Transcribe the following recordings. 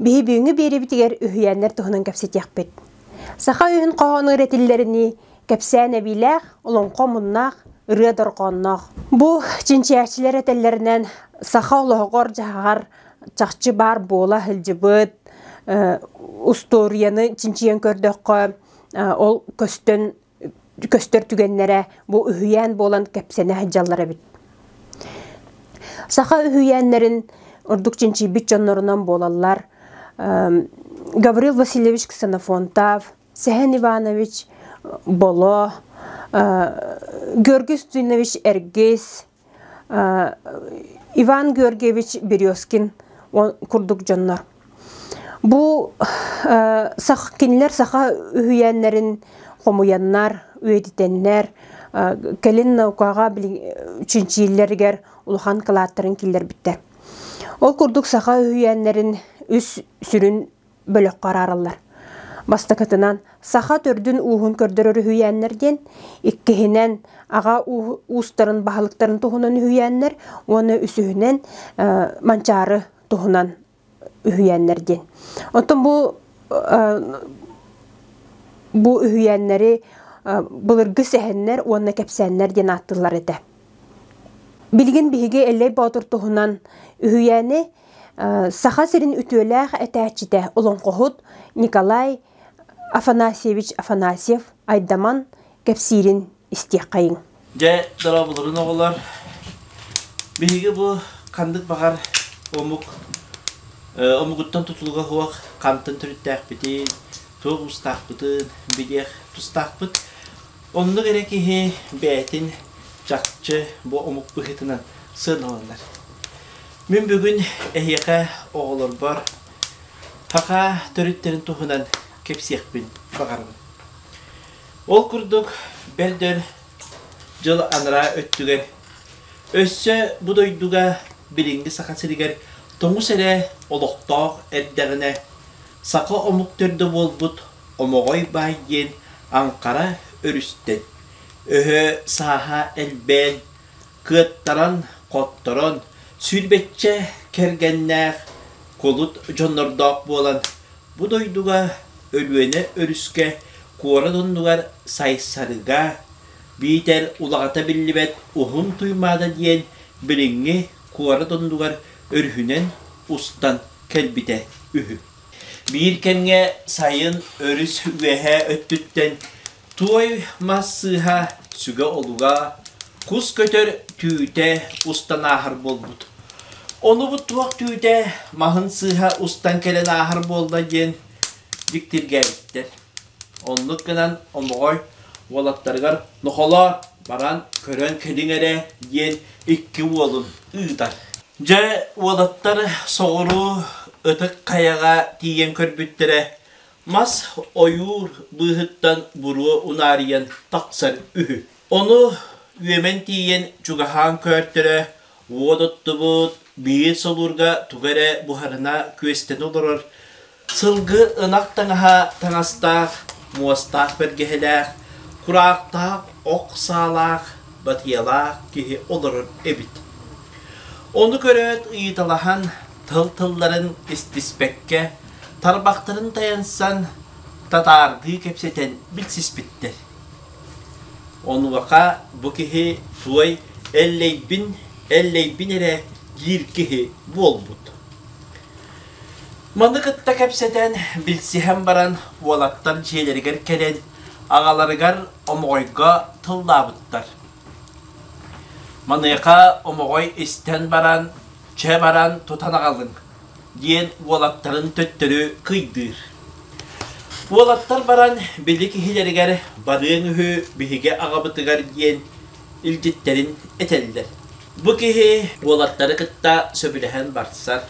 Биһи бүгүҥҥү биэрэбитигэр үһүйээннэр туһунан кэпсэтиэхпит. Саха үһүн хоһоону ырэтиллэринии кэпсээн эбиилээх, олоҥхо муннаах, ырыа дорҕоонноох. Бу чинчийээччилэр этэллэринэн саха олоһоҕор-дьаһаҕар чахчы баар буола сылдьыбыт устуоруйаны чинчийэн көрдөххө ол көстөн көстөр түгэннэрэ бу үһүйээн буолан кэпсэнэ сылдьаллар эбит. Саха үһүйээннэрин ордук чинчийбит дьоннорунан буолаллар Гаврил Васильевич Ксенофонтав, Сэһэн Иванович Боло, Георгий Устинович Эргис, Иван Георгиевич Березкин курдук дьоннор. Бу кинилэр саха үһүйээннэрин хомуйаннар, үйэтитэннэр, кэлин наукаҕа чинчииллэригэр улахан кылааттарын киллэрбиттэр. Ол курдук саха үһүйээннэрин үс сүрүн бөлөххө араараллар. Бастакытынан, саха төрдүн ууһун көрдөрөр үһүйээннэр диэн, иккиһинэн, аҕа уустарын баһылыктарын туһунан үһүйээннэр уонна үсүһүнэн Манчаары туһунан үһүйээннэр диэн. Оттон бу бу үһүйээннэри былыргы сэһэннэр уонна кэпсээннэр диэн ааттыыллар этэ. Билигин биһиги Эллэй Боотур туһунан үһүйээни Саха сирин үтүөлээх этээччитэ олоҥхоһут Николай Афанасьевич Афанасьев Айдаман кэпсиирин истиэххэйиҥ. Дьэ, дорооболорун оҕолор. Биһиги бу ханнык баҕар омук омугуттан тутулуга суох хантан төрүттээхпитин, туох уустаахпытын билиэх тустаахпыт. Оннук эрэ киһи бэйэтин чахчы бу омук быһыытынан сыаналанар. Мин бүгүн эһиэхэ оҕолорбор хахаа төрүттэрин туһунан кэпсиэхпин баҕарабын. Ол курдук, бэрдэр дьыл анараа өттүгэр өссө бу дойдуга билиҥҥи Саха сиригэр тоҥус эрэ олохтоох эрдэҕинэ саха омук төрдө буолбут Хомоҕой баай диэн аҥхара өрүстэн, өһө сааһа элбээн, кыаттаран, хотторон, сүүрбэччэ кэргэннээх, кулут дьоннордоох буолан, бу дойдуга Өлүөнэ өрүскэ куорат оннугар Сайсарыга биитэр улаҕата биллибэт Уһун Туймаада диэн билиҥҥи куорат оннугар өрүһүнэн устан кэлбитэ үһү. Биир кэмҥэ сайын өрүс үөһэ өттүттэн туой мас сыыһа сүгэ-олуга, кус көтөр түүтэ устан ааһар буолбут. Онубут туох түүтэ маһын сыыһа устан кэлэн ааһар буолла диэн дьиктиргээбиттэр Оннук гынан Омоҕой уолаттарыгар Нохолоо, баран көрөн кэлиҥ эрэ, диэн икки уолун ыытар. Дьэ, уолаттар соҕуруу Ытык Хайаҕа тиийэн көрбүттэрэ, мас ойуур быыһыттан буруо унаарыйан тахсар үһү. Ону үөмэн тиийэн чугаһаан көөртөрө, уот оттубут биир солуурга тугу эрэ буһарына күөстэнэ олорор Сылгы ынах таҥаһа таҥастаах, муостаах бэргэһэлээх, кураахтаах ох саалаах, батыйалаах киһи олорор эбит. Ону көрөөт ыйыталаһан, тыл-тылларын истиспэккэ, тарбахтарын тайансан, татаардыы кэпсэтэн билсиспиттэр. Онуоха бу киһи туой эллэйбин, эллэйбин эрэ диир киһи буолбут. Маны кытта кэпсэтэн, билсиһэн баран, уолаттар дьиэлэригэр кэлэн, аҕаларыгар омоҕойго тыллаабыттар. Маныаха омоҕой истэн баран, чэ баран тутан аҕалыҥ, диэн уолаттарын төттөрү кыйдыыр. Уолаттар баран били киһилэригэр барыаҥ үһү биһиги аҕабытыгар диэн илдьиттэрин этэллэр. Бу киһи уолаттары кытта сөбүлэһэн барсар,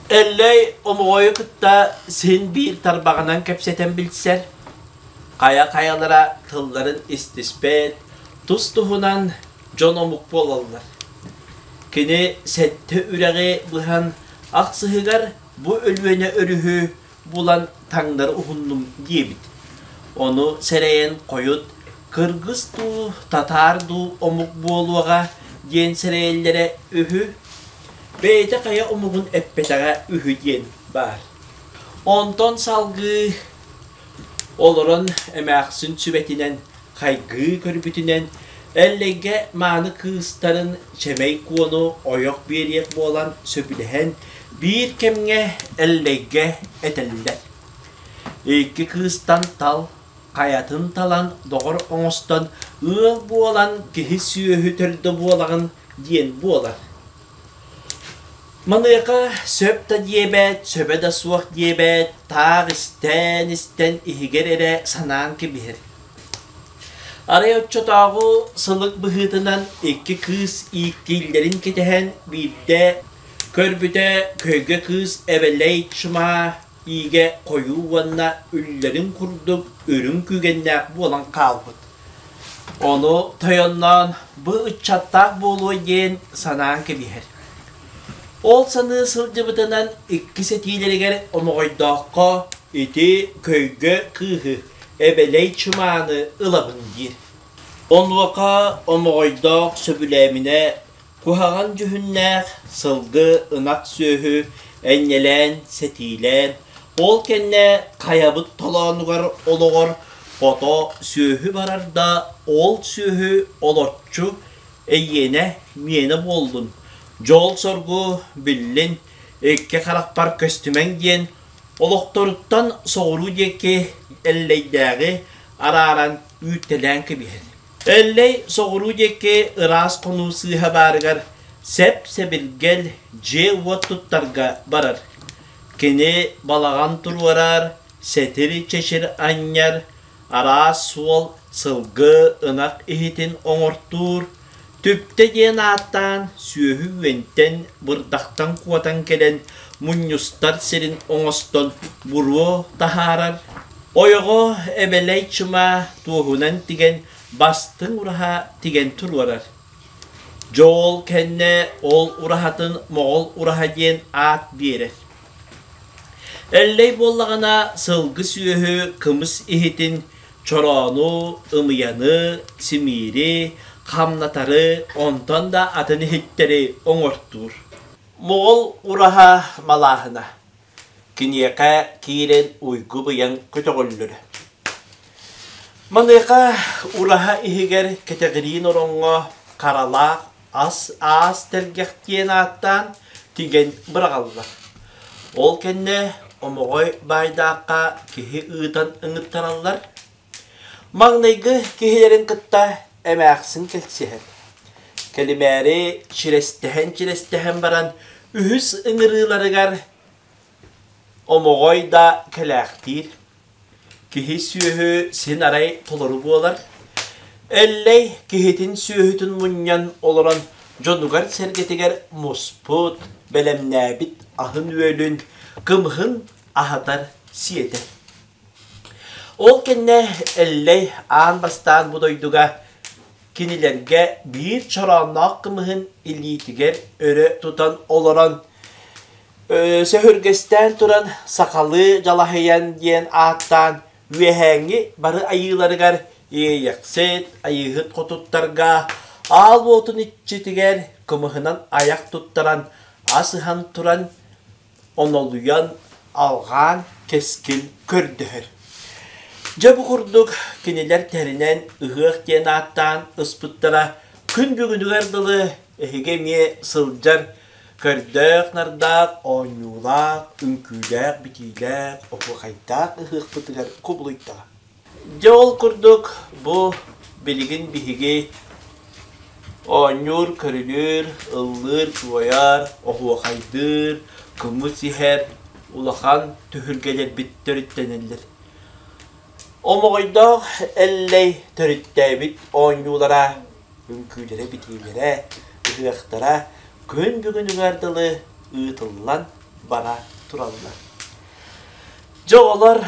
Эллэй омоҕойу кытта син биир тарбаҕынан кэпсэтэн билсэр, хайа-хайалара тылларын истиспэт, тус-туһунан дьон омук буолаллар. Кини сэттэ үрэҕи быһан ахсыһыгар бу Өлүөнэ өрүһү булан таҥнар уһуннум диэбит. Ону сэрэйэн хойут кыргыс дуу, татаар дуу омук буолуоҕа диэн сэрэйэллэрэ үһү. Бэйэтэ хайа омугун эппэтэҕэ үһү диэн баар. Онтон салгыы олорон эмээхсин сүбэтинэн Хайгыы көрбүтүнэн, Эллэйгэ мааны кыыстарын Чэмэй Куону ойох биэриэх буолан сөбүлэһэн, биир кэмҥэ Эллэйгэ этэллэр. Икки кыыстан тал, хайатын талан, доҕор оҥостон, ыал буолан киһи сүөһү төрдө буолаҕын диэн буолар. Маныаха сөп да диэбэт, сөбө да суох диэбэт, таах истээн-истэн иһигэр эрэ санаан кэбиһэр. Арай оччотооҕу сылык быһыытынан икки кыыс ииктииллэрин кэтэһэн биирдэ көрбүтэ көйгө кыыс эбэлэй чымаа иигэ хойуу уонна үллэрин курдук үрүҥ күүгэннээх буолан хаалбыт. Ону тойонноон бу ыччаттаах буолуой диэн санаан кэбиһэр. Ол саныы сылдьыбытынан иккис этиилэригэр омоҕойдооххо ити көйгө кыыһы, эбэлэй чымааны ылабын диир. Онуоха омоҕойдоох сөбүлээминэ Куһаҕан дьүһүннээх, сылгы, ынах сүөһү энньэлээн, сэтиилээн, ол кэннэ хайабыт толоонугар олоҕор хото сүөһү барар да, ол сүөһү олорчу эйиэнэ миэнэ буоллун, дьол-соргу биллин, икки харахпар көстүмэҥ диэн олохторуттан соҕуруу диэки Эллэйдээҕи арааран үүртэлээн кэбиһэр Эллэй соҕуруу диэки ыраас хонуу сыыһа баарыгар сэп-сэбиргэл дьиэ-уот туттарга барар. Кини балаҕан туруорар, сэтир-чэчир анньар, араас суол, сылгы, ынах иһитин оҥортуур, Түптэ диэн ааттаан сүөһү үөнтэн, бырдахтан куотан кэлэн мунньустар сирин оҥостон буруо таһаарар, ойоҕо эбэлэй чымаа туоһунан тигэн бастыҥ ураһа тигэн туруорар. Дьоол кэннэ ол ураһатын моҕол ураһа диэн аат биэрэр. Эллэй буоллаҕына сылгы-сүөһү кымыс иһитин чороону, ымыйаны, симиири, хамнатары, онтон да атын иһиттэри оҥортуур. Моҕол ураһа малааһына киниэхэ киирэн уйгу-быйаҥ көтөҕүллэрэ. Маныаха ураһа иһигэр кэтэҕириин ороҥҥо харалаах ас аас тэлгэх диэн ааттаан тигэн быраҕаллар. Ол кэннэ омоҕой баайдаахха киһи ыытан ыҥыттараллар. Маҥнайгы киһилэрин кытта эмээхсин кэлсиһэр. Кэлимээри чирэстэһэн-чирэстэһэн баран үһүс ыҥырыыларыгар омоҕой да кэлээхтиир. Киһи сүөһү син арай толору буолар. Эллэй киһитин сүөһүтүн мунньан олорон дьонугар-сэргэтигэр муспут, бэлэмнээбит аһын-үөлүн, кымыһын аһатар, сиэтэр. Ол кэннэ Эллэй аан бастаан бу дойдуга кинилэргэ биир чороонноох кымыһын илиитигэр өрө тутан олорон сөһүргэстээн туран сахалыы дьалаһыйан диэн ааттаан үөһээҥҥи бары айыыларыгар иэйэхсит, айыыһыт хотуттарга аал уотун иччитигэр кымыһынан айах туттаран ас ыһан туран онолуйан, алҕаан кэскил көрдөһөр. Дьэ бу курдук кинилэр тэринэн ыһыах диэн ааттаан ыспыттара күн бүгүнүгэр дылы эһиги эмиэ сылдьар көрдөөх-нардаах, оонньуулаах, үҥкүүлээх, битиилээх, оһуохайдаах ыһыахпытыгар кубулуйтаҕа. Дьэ ол курдук бу билигин биһиги оонньуур, көрүлүүр, ыллыыр, туойар, оһуохайдыыр, кымыс иһэр улахан түһүлгэлэрбиттэриттэн этэллэр. Омоҕойдоох Эллэй төрүттээбит оонньуулара, үҥкүүлэрэ, битиилэрэ, ыһыахтара күн бүгүнүгэр дылы ыытыллан бара тураллар. Дьэ оҕолор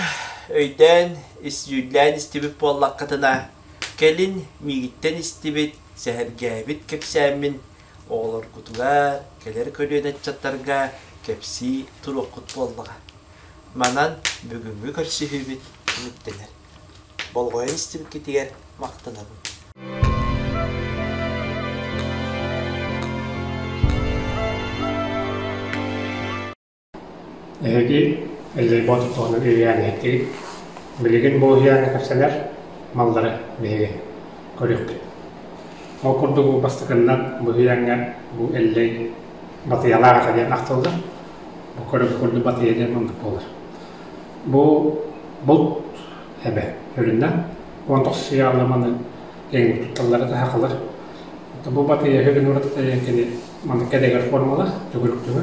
өйдөөн, иссүүллээн истибит буоллаххытына, кэлин миигиттэн истибит, сэһэргээбит кэпсээммин оҕолоргутугар, кэлэр көлүөнэ ыччаттарга кэпсии туруоххут буоллаҕа. Манан бүгүҥҥү көрсүһүүбүт түмүктэнэр. Болҕойон истибиккитигэр махтанабын. Эһиги Эллэйбоот отоҕунан үөйээн иһиттигит, билигин бу уһуйааҥҥа кэпсэнэр маллары биһиги көрүөхпүт. Ол курдук бу бастакыннан бу уһуйааҥҥа бу Эллэй батыйалаах этэ диэн ахтыллар. Бу көрүҥ курдук батыйа диэн маннык буолар. Бу булт эбэ үрүнэ уон тохсус яалыманы эҥин тутталлара таһакылар. Бу батыйа үһүгүн уратыта кини маннык кэдэгэр формалар, төгүрүктүгү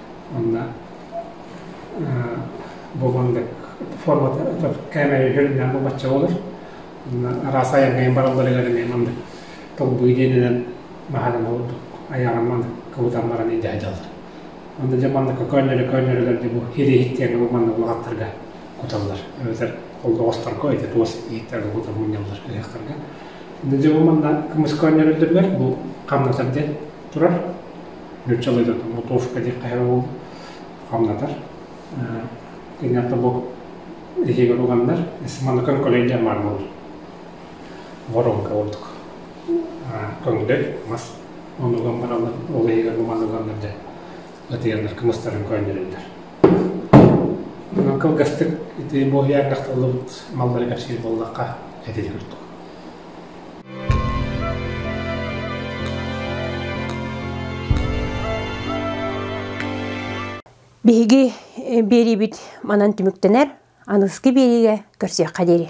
Онно буолан формата кээмэйэ үһүрүннээн бу бачча болор. Араас айангайын бараллар илэринээн маннык толбуй диэнинэн баһадан олордук аяҕан маннык кыбытан баран идэ дьаллар. Онда дьэ маннык көөннөрө көөннөрөлөрдө бу хириһиттиэгэ бу маннык улахаттарга куталлар. Эбэтэр олоҕостарга эти туос иһиттэргэ кутан мунньаллар ыһыахтарга. Дьэ бу манна кымыс көөннөрөлдөргөр бу хамнатар диэн турар. Нуучча алыытыт лутовка диэххэ эрэ ол хамнатар. Кэнята бу эһиигэр уганнар, Симаныкын коллегия маар буолар. Воронка ордук. Көҥдөй, мас онуган бараллар, ол эһиигэр муманыганнар дьэ ытыйаннар кымыстарын көөннөрөллөр. Кылгастык ити бу иэҥэхталлыбыт маллары кэпсиир боллахха этин курдук. Биһиги биэриибит манан түмүктэнэр, аныгыскы биэриигэ көрсүөххэ диэри.